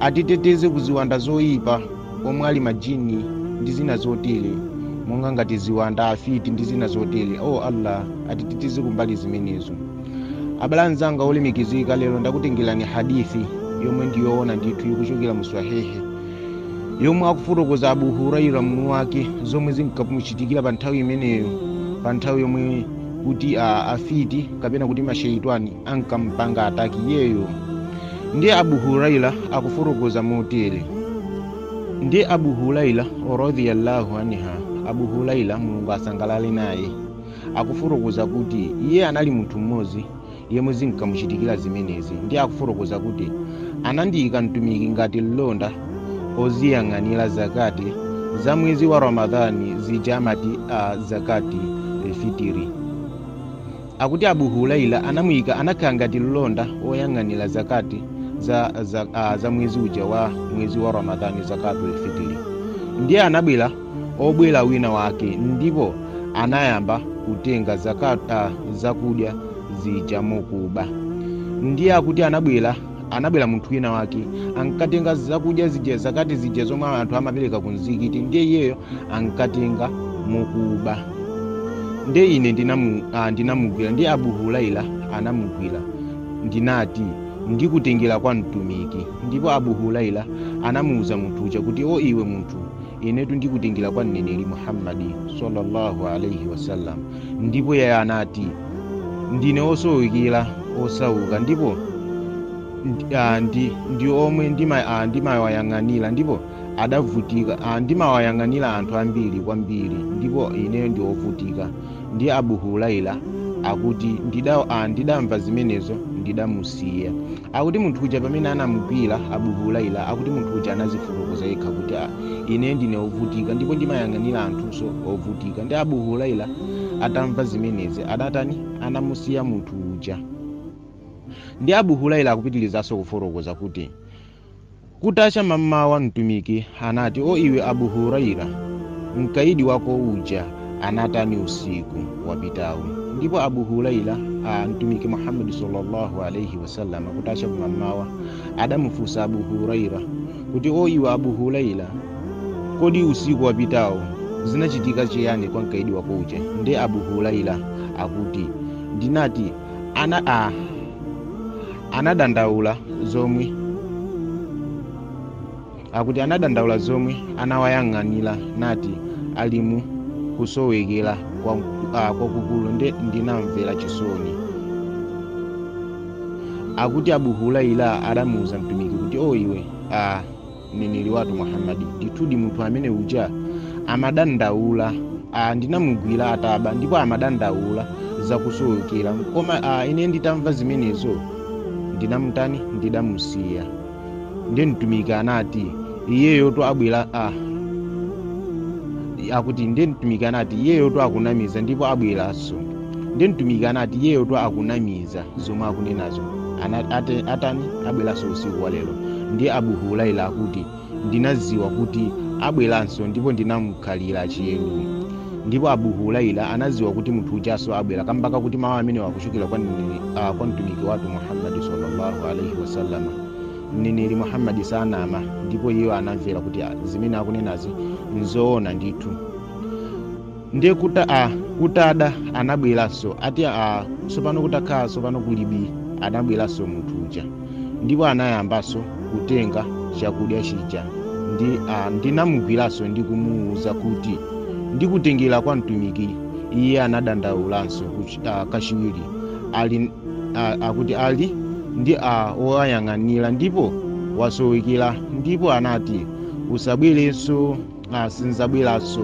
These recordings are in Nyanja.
atiteteze ku ziwanda zoyipa omwe ali majini ndi zina zotere monga ngati ziwanda afiti ndi zina zotere o allah atiteteze kumbali zimenezo abale anzanga olemekezeka lero ndakutengerani hadithi yomwe ndi yowona ndithu ikuchokera mu swahihi yomwe akufotokoza abu huraira mwini wake zomwe zinkamuchitikira pa nthawi imeneyo pa nthawi yomwe kuti a, afiti kapena kuti masheitwani ankampanga ataki iyeyo ndiye abu huraira akufotokoza motere ndiye abu huraira radhiyallahu anha abu huraira mulungu asangalale naye akufotokoza kuti iye anali munthu mmodzi yemwe zinkamuchitikira zimenezi ndiye akufotokoza kuti anandiyika mtumiki ngati mlonda oziyang'anira zakati za mwezi wa ramadhani zija amati a zakatul fitiri Akuti Abu Huraira anamuyika anakhala ngati mlonda woyang'anira zakati za, za, a, za mwezi uja wa mwezi wa Ramadhani zakatul fitiri. Ndiye anabwera obwera wina wake ndipo anayamba kutenga zakat, a, zakudya zija mokuba. Ndiye akuti anabwera anabwera munthu wina wake ankatenga zakudya zija zakati zija zomwe anthu amapereka ku mzikiti ndiye iyeyo ankatenga mokuba ndiye ine ndinamu- ah, ndinamugwira ndiye abu huraira anamugwira ndinati ndikutengera kwa mtumiki ndipo abu huraira anamuwuza munthu uja kuti o iwe munthu inetu ndikutengera kwa mneneri muhammadi sallallahu alaihi wasallam ndipo iye anati ndine osowekera osauka ndipo ndi- ah, ndi, ndi omwe ndima- ah, ndimawayang'anira ndipo adavutika ah, ndimawayang'anira anthu ambiri kwambiri ndipo ineyo ndi ovutika ndiye abu huraira akuti ndida, ah, ndidamva zimenezo ndidamusiya Akuti munthu uja pamene anamugwira Abu Hurairah akuti munthu uja anazifotokoza yekha kuti "Ah, ine ndine ovutika ndipo ndimayang'anira anthunso ovutika. Ndiye Abu Hurairah atamva zimenezi adatani anamusiya munthu uja. Ndiye Abu Hurairah akupitirizanso kufotokoza kuti Kutacha mammawa Mtumiki anati, O iwe Abu Huraira, mkaidi wako uja anatani usiku wapitawu? Ndipo Abu Huraira a Mtumiki Muhammad sallallahu alaihi wasallam kutacha kummawa adamufunsa Abu Huraira kuti, O iwe Abu Huraira, kodi usiku wapitawu zinachitika chiyani kwa mkaidi wako uja? Ndiye Abu Huraira akuti ndinati ana a akuti anadandaula zomwe anawayang'anira nati alimu kusowekera kwa- ah, kwakukulu nde ndinamvera chisoni akuti abu huraira adamuuza mtumiki kuti o iwe ah, mneneri wathu muhammadi ndithudi munthu amene uja amadandaula ah, ndinamugwira ataba ndipo amadandaula zakusowekera koma ah, ine nditamva zimenezo ndinamutani ndidamusiya ndiye mtumiki anati iyeyotu abwera ah, akuti ndiye mtumiki anati iyeyotu akunamiza ndipo abweranso ndiye mtumiki anati iyeyotu akunamiza zomwe akunenazo Ana- ate- atani abweranso usiku wa lero ndiye abu huraira akuti ndinaziwa kuti abweranso ndipo ndinamkhalira tcheru ndipo abu huraira anaziwa kuti munthu ujanso abwera kamba kakuti mawu amenewa akuchokera kwa mneneri- ah, kwa mtumiki wathu muhammadi sallallahu alaihi wasallama mneneri muhammadi sanama ndipo iye anamvera kuti ah, zimene akunenazi nzoona ndithu ndiye kuta a kutada anabweranso ati a tsopano kutakhala tsopano kuli bii anabweranso munthu uja ndipo anayambanso kutenga chakudya chija ndi a ndinamugwiranso ndi kumuwuza kuti ndikutengera kwa mtumiki iye anadandaulanso kuch- ah, kachiwiri ali ah, akuti ali ndi a woyang'anira ndipo wasowekera ndipo anati usabwerenso ah, sinzabweraso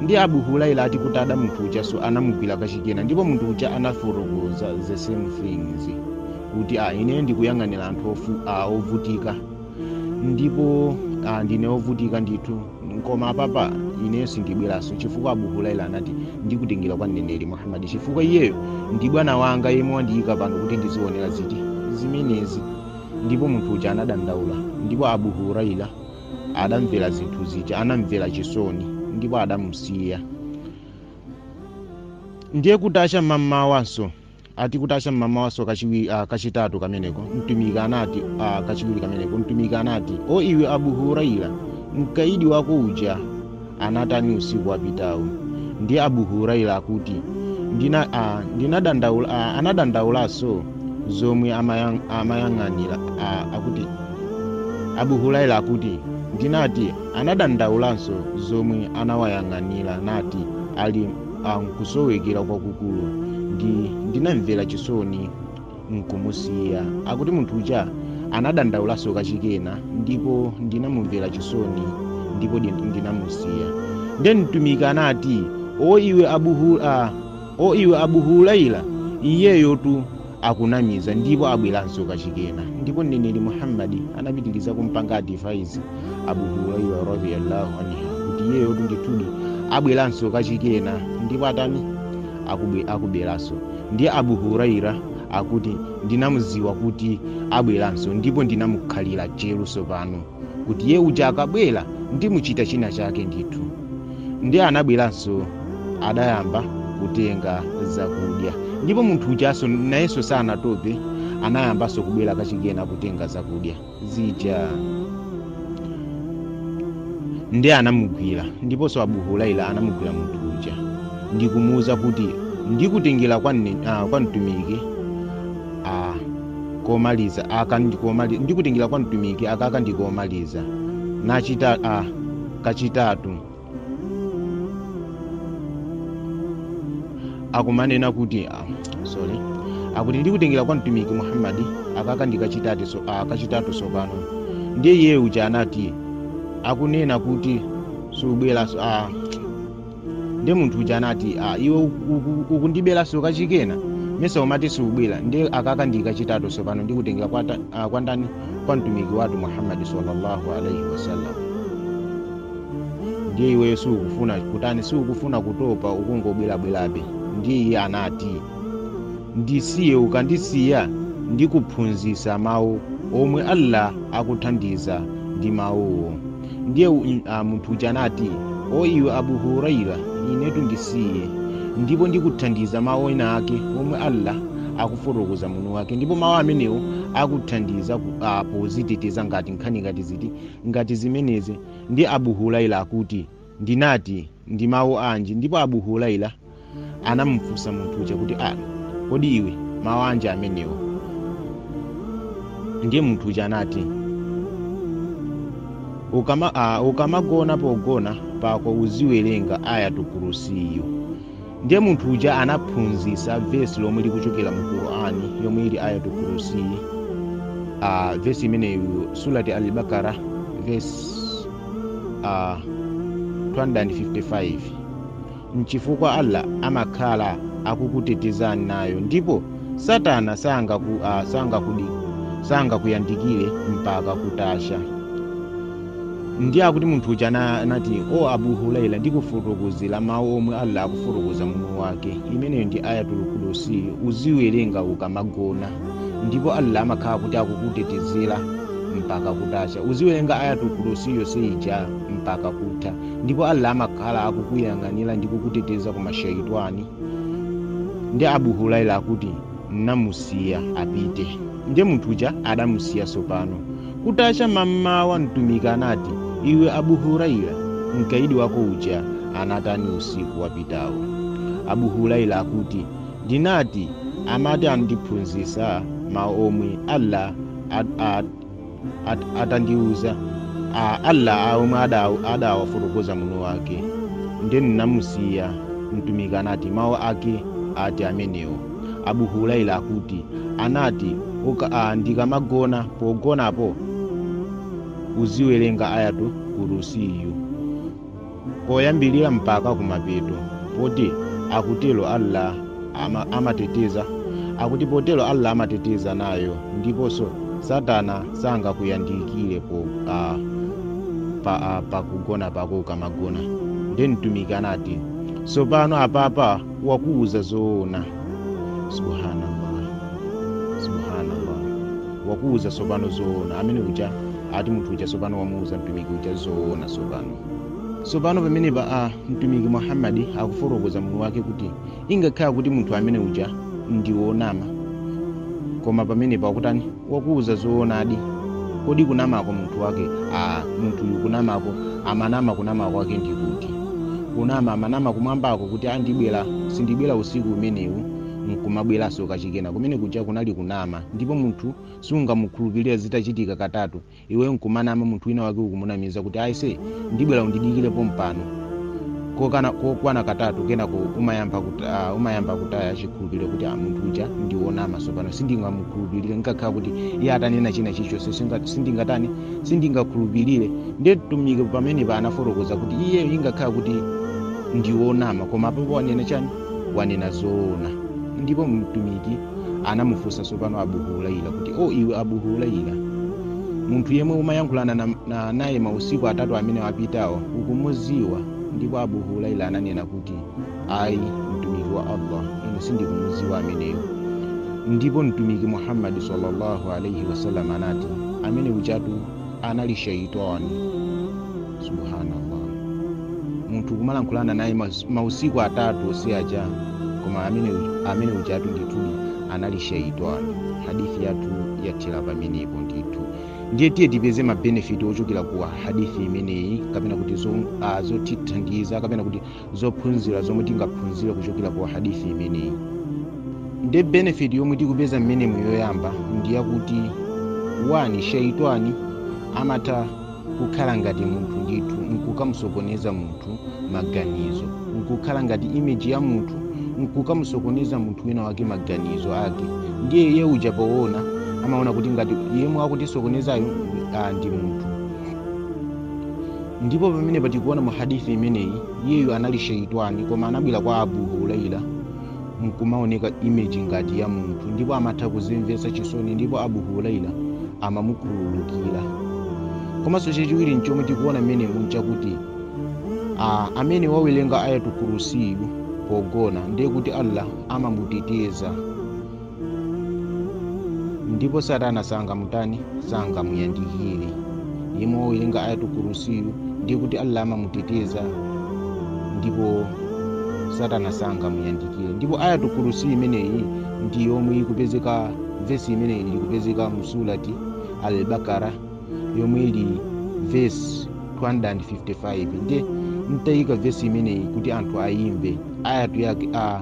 ndi abu huraira ati kutada munthu ujaso anamugwira kachikenanso ndipo munthu uja anafotokoza the same things kuti ah, ine ndikuyang'anira anthu ofu- ah, ovutika ndipo ah, ndine ovutika ndithu koma apapa ineyo sindibweraso chifukwa abu huraira anati ndikutengera kwa mneneri muhammadi chifukwa iyeyo ndi bwana wanga yemwe wandiyika pano kuti ndizionera ziti zimenezi ndipo munthu uja anadandaula ndipo abu huraira adamvera zinthu zija anamvera chisoni ndipo adamusiya ndiye kutacha m'mamawanso ati kutacha m'mamawanso kachiwi uh, kachitatu kameneko mtumiki anati uh, kachiwiri kameneko mtumiki anati o iwe abu huraira mkaidi wako uja anatani usiku wapitawu ndi abu huraira akuti ndina, a, ndinadandaula, a, anadandaulaso zomwe amayang, amayang'anira a, akuti abu huraira akuti ndinati anadandaulanso zomwe anawayang'anira nati ali a, nkusowekera kwakukulu ndi ndinamvera chisoni nkumusiya akuti munthu uja anadandaulaso kachikena ndipo ndinamumvera chisoni ndipo ndi- ndinamusiya nde mtumiki anati o iwe abu hura o iwe abu huraira iyeyotu akunamiza ndipo abweranso kachikena ndipo mneneri muhammadi anapitiriza kumpanga advice abu huraira radiyallahu anhu kuti iyeyotu ndithudi abweranso kachikena ndipo atani akubwe- akubweranso Ndiye Abu Hurairah akuti ndinamuziwa kuti abweranso ndipo ndinamukhalira tcheru sopano kuti iye uja akabwera ndimuchita china chake ndithu. Ndiye anabweranso adayamba kutenga zakudya ndipo munthu ujanso nayenso sanatope anayambanso kubwera kachikena kutenga zakudya. zija nde anamugwira ndiponso abu huraira anamugwira munthu uja ndi kumuwuza kuti ndikutengera kwa, mne- ah, kwa mtumiki ah, komaliza aka ndikomali- ndikutengera kwa mtumiki aka ka ndikomaliza nachita ah, kachitatu akumanena kuti ah, sorry akuti ndikutengera kwa mtumiki muhammadi aka ka ndikachitatu so, ah, kachitatu tsopano ndiye iye uja anati akunena kuti subweranso ah, ndiye munthu uja anati ah, iwe uku- uku- ukundiberanso kachikena mesa umati siubwera ndiye aka ka ndikachitatu tsopano ndikutengera kwa, ta- ah, kwa ndani kwa mtumiki wathu muhammadi sallallahu alaihi wasallam ndiye iweyo siukufuna kutani siukufuna kutopa ukungobwerabwerabe ndiye iye anati ndisiye ukandisiya ndikuphunzitsa mawu omwe allah akuthandiza ndi mawuwo ndiye u- m- a, munthu uja anati o iwe abu huraira inetu ndisiye ndipo ndikuthandiza mawu ena ake omwe allah akufotokoza mwini wake ndipo mawu amenewo akuthandiza ku- a, poziteteza ngati nkhani ngati ziti ngati zimenezi ndiye Abu Huraira akuti ndinati ndi mawu anji ndipo Abu Huraira anamufunsa munthu uja kuti a kodi iwe mawu anji amenewo ndiye munthu uja anati ukama, uh, ukamagona pogona pako uziwerenga ayatul kursiyu ndiye munthu uja anaphunzitsa vesi lomwe likuchokera mu qur'ani yomwe ili ayatul kursi uh, vesi imeneyo surati al-bakara vesi uh, 255 mchifukwa allah amakhala akukutetezani nayo ndipo satana sangakuyandikire uh, sanga mpaka kutacha ndiye akuti munthu uja ana- anati o abu huraira ndikufotokozera mawu omwe allah akufotokoza mwini wake imeneyo ndi ayatul kursiyu uziwerenga ukamagona ndipo allah amakhala kuti akukutetezera mpaka kutacha uziwerenga ayatul kursiyu yonse ija mpaka kutha ndipo allah amakhala akukuyang'anira ndi kukuteteza ku mashaitani ndiye abu huraira akuti namusiya apite. Ndiye munthu uja adamusiya tsopano. Kutacha mammawa Mtumiki anati, Iwe Abu Huraira, mkaidi wako uja anatani usiku wapitawo? Abu Huraira akuti, Ndinati, amati andiphunzitsa mawu omwe Allah at- atandiuza a allah a omwe ada- adawafotokoza mwini wake nde ndinamusiya mtumiki anati mawu ake ati amenewo abu huraira akuti anati "Uka- ah, ndikamagona pogonapo uziwerenga ayatul kursiyu koyambirira mpaka kumapeto poti kutero allah ama, amateteza akuti potero allah amateteza nayo ndiponso satana sangakuyandikire po uh, pa, uh, pakugona pako ukamagona nde mtumiki anati tsopano apapa wakuuza zoona subhanallah subhanallah wakuuza tsopano zoona amene uja ati munthu uja tsopano wamuuza mtumiki uja zoona tsopano tsopano pamenepa a mtumiki muhammadi akufotokoza mwini wake kuti ngakhale kuti munthu amene uja ndi wonama koma pamenepa wakutani wakuuza zoonadi kodi kunama kwa munthu wake a munthuyu kunamako amanama kunama kwake ndi kuti kunama amanama kumwambako kuti andibwera sindibwera usiku umenewu nkumabweranso kachikenanso kumene kuja kunali kunama ndipo munthu sungamukhulupirire zitachitika katatu iwe nkumanama munthu wina wake ukumunamiza kuti aise ndibwera undidikire pompano kokana kokwana katatu kenako umayamba kuti uh, umayamba kutaya chikhulupiriro kuti ah, munthu uja ndiwonama tsopano sindingamukhulupirire ngakhale kuti iye atanena china chilichonse singa- sindingatani sindingakhulupirire ndiye mtumiki pamenepa anafotokoza kuti iye ngakhale kuti ndiwonama koma apo wanena chani wanena zoona ndipo mtumiki anamufunsa tsopano abu huraira kuti o iwe abu huraira munthu yemwe umayankhulana na- na- naye mausiku atatu amene apitawa ukumuziwa ndipo abu huraira ananena kuti ayi mtumiki wa allah ine sindikumuziwa ameneyo ndipo mtumiki muhammadi sallallahu alaihi wasallam anati amene ujatu anali shaitani subhanallah munthu kumalankhulana naye mas- mausiku atatu osiya aja koma amene uj- amene ujatu ndithudi anali shaitani hadithi yathu yathera pamenepo ndithu ndiye tiye tipeze mabenefiti ochokera ku hadithi imeneyi kapena kuti zo- ah, zotithandiza kapena kuti zophunzira zomwe tingaphunzire kuchokera ku hadithi imeneyi ndiye benefit yomwe tikupeza mmenemu yoyamba ndi yakuti wani shaitani amatha kukhala ngati munthu ndithu nkukamusokoneza munthu maganizo nkukhala ngati imeji ya munthu nkukamusokoneza munthu wina wake maganizo ake ndiye iye uja poona amaona kuti ngati yemwe akutisokonezayo ah, ndi munthu ndipo pamene patikuona mu hadithi imeneyi iyeyo anali sheitani koma anabwera kwa abu huraira nkumaoneka imeji ngati ya munthu ndipo amatha kuzimvetsa chisoni ndipo abu huraira amamukhululukira komanso chachiwiri nchomwe tikuona mmenemu nchakuti ah, amene wawerenga ayatu kurusiyu pogona ndiye kuti allah amamuteteza ndipo satana sangamutani sangamuyandikire yemwe wawerenga ayatu kurusiyu ndiye kuti allah amamuteteza ndipo satana sangamuyandikire ndipo ayatu kurusi imeneyi ndi yomwe ikupezeka vesi imeneyi ili kupezeka mu surati albakara yomwe ili vesi 255 nde ndayika vesi imeneyi kuti anthu ayimve ayatu yake a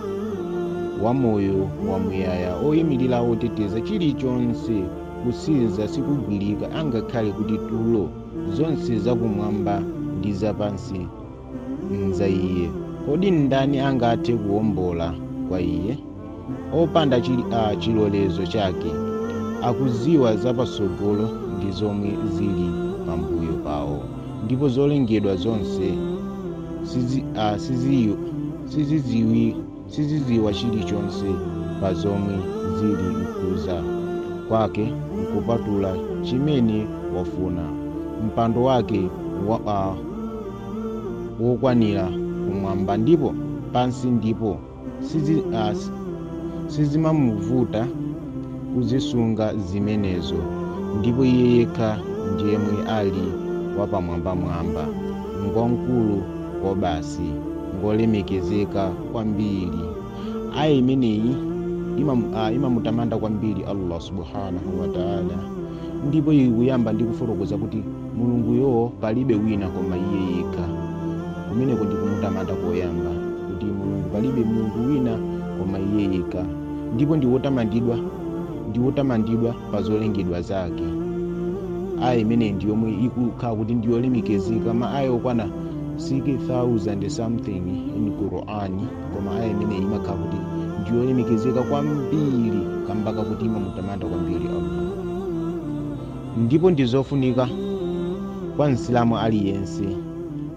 wa moyo wa muyaya oyimirira oteteza chilichonse kusinza sikumgwira angakhale kuti tulo zonse zakumwamba ndi zapansi nza iye kodi ndani angathe kuwombola kwa iye opanda chili a chilolezo chake akuziwa zapatsogolo ndi zomwe zili pambuyo pawo ndipo zolengedwa zonse sizi, a, siziyo sizidziwi sizidziwa chilichonse pa zomwe zili mkudziwa kwake nkupatula chimene wafuna mpando wake wa, uh, wokwanira kumwamba ndipo pansi ndipo sizi, uh, sizimamuvuta kuzisunga zimenezo ndipo iye yekha ndiyemwe ali wapamwambamwamba ngwamkulu kwabasi ngolemekezeka kwambiri aya imeneyi imam- ah, imamutamanda kwambiri allah subhanahu wataala ndipo ikuyamba ndi kufotokoza kuti mulunguyo palibe wina koma iye yekha kumeneko ndi kumutamanda koyamba kuti mulungu palibe mulungu wina koma iye yekha ndipo ndi wotamandidwa ndi wotamandidwa pa zolengedwa zake aya imeneyi ndi yomwe ikukhala kuti ndi yolemekezeka ma aya okwana 6000 something in quran koma aya imeneyi imakhala kuti ndi yolemekezeka kwambiri kamba kakuti imamutamanda kwambiri allah ndipo ndi zofunika kwa msilamu aliyense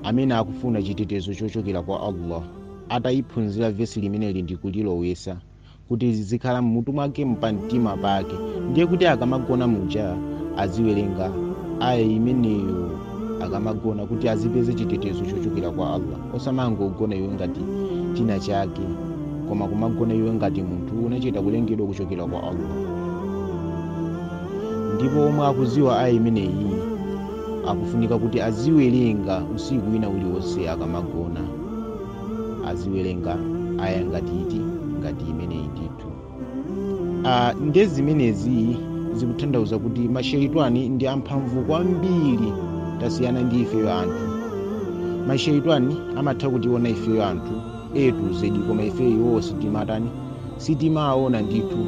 amene akufuna chitetezo chochokera kwa allah atayiphunzira vesi limeneli ndi kulilowesa kuti zizikhala mmutu mwake mpamtima pake ndiye kuti akamagona muja aziwerenga aya imeneyo akamagona kuti azipeze chitetezo chochokera kwa allah osamangogona iwe ngati china chake koma kumagona iwe ngati munthu unachita kulengedwa kuchokera kwa allah ndipo omwe akuziwa aya imeneyi akufunika kuti aziwerenga usiku wina uliwonse akamagona aziwerenga aya ngati iti ngati imeneyi ndithu Ah, nde zimenezi zikutanthauza kuti masheitwani ndi amphamvu kwambiri tasiyana ndi ifeyo anthu masheitwani amatha kutiona ifeyo anthu etu zedi koma ifeyo sitimawatani sitimawaona ndithu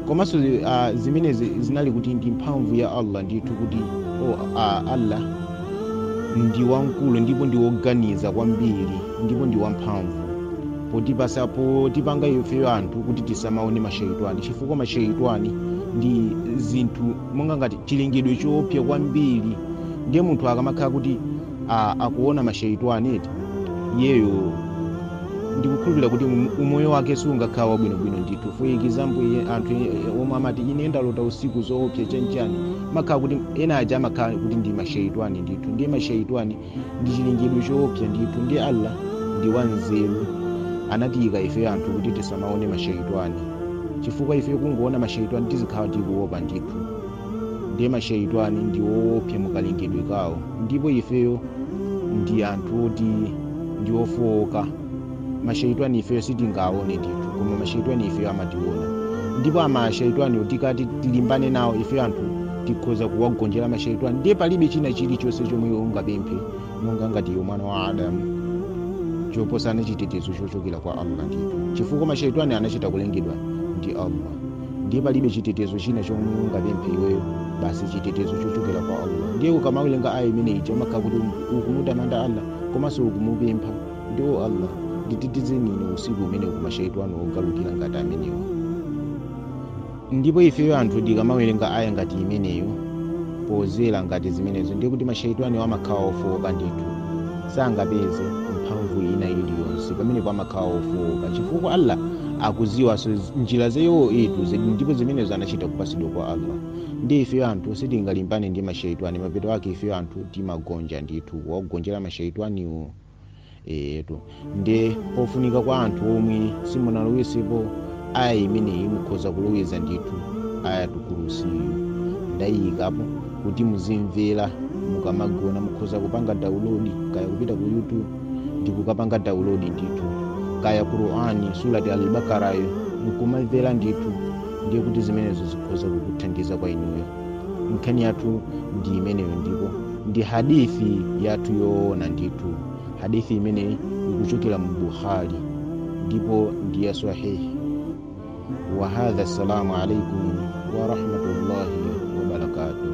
komanso uh, zimenezi zinali kuti ndi mphamvu ya allah ndithu kuti oh, uh, allah ndi wamkulu ndipo ndi woganiza kwambiri ndipo ndi wamphamvu potipasa potipanga ifeyo anthu kuti tisamaone masheitwani chifukwa masheitwani ndi zinthu monga ngati chilengedwe choopsa kwambiri ndiye munthu akamakhala kuti a- akuona masheitwani eti iyeyo ndikukhulupirira kuti um- umoyo wake siungakhale wabwinobwino ndithu for example iye- anthu e- e- omwe amati ine ndalota usiku zoopsa chanchani makhala kuti ena aja amakhala kuti ndi masheitwani ndithu ndiye masheitwani ndi chilengedwe choopsa ndithu ndiye allah ndi wanzeru anatiyika ife anthu kuti tisamaone masheitwani chifukwa ife kungoona masheitwani tizikhala tikuopa ndithu ndiye masheitwani ndi woopsa mukalengedwe kawo ndipo ifeyo ndi anthu oti ndi ofowoka masheitwani ifeyo sitingaone ndithu koma masheitwani ifeyo amationa ndipo masheitwani tikati tilimbane nawo ifeyo anthu tikhoza kuwagonjera masheitwani ndiye palibe china chilichonse chomwe iwe ungapemphe monga ngati iwe mwana wa adamu choposana chitetezo chochokera kwa allah ndithu chifukwa masheitwani anachita kulengedwa ndi allah ndiye palibe chitetezo china chomwe ungapemphe iweyo basi chitetezo chochokera kwa allah ndiye ukamawerenga aya imene ija umakhala kuti ukumutamanda allah komanso ukumupempha kuti o allah nditetezeni ine usiku umene kumasheitwani ogalukira ngati amenewo ndipo ifeyo anthu tikamawerenga aya ngati imeneyo pozera ngati zimenezo ndiye kuti masheitwaniwo amakhala ofowoka ndithu sangapeze mphamvu ina iliyonse pamenepo amakhala ofowoka chifukwa allah akuziwaso njira zawo etu ndipo zimenezo anachita kupasidwa kwa allah ndi ifeyo anthu sitingalimbane ndi mashaitani mapeto ake ifeyo anthu timagonja ndithu wakugonjera mashaitaniwo etu nde pofunika kwa anthu omwe simunalowezepo aya imeneyi mukhoza kuloweza ndithu ayatul kursiyo ndayiyikapo kuti muzimvera mukamagona mukhoza kupanga download kaya kupita ku youtube ndikukapanga download ndithu kaya qur'ani surati al-Baqarayo nkumamvera ndithu ndiye kuti zimenezo zikhoza kukuthandiza kwa inuyo nkhani yathu ndi imeneyo ndipo ndi hadithi yathu yoona ndithu hadithi imeneyi ikuchokera mu bukhari ndipo ndi ya sahihi wa hadha assalamu alaikum wa rahmatullahi wa barakatuh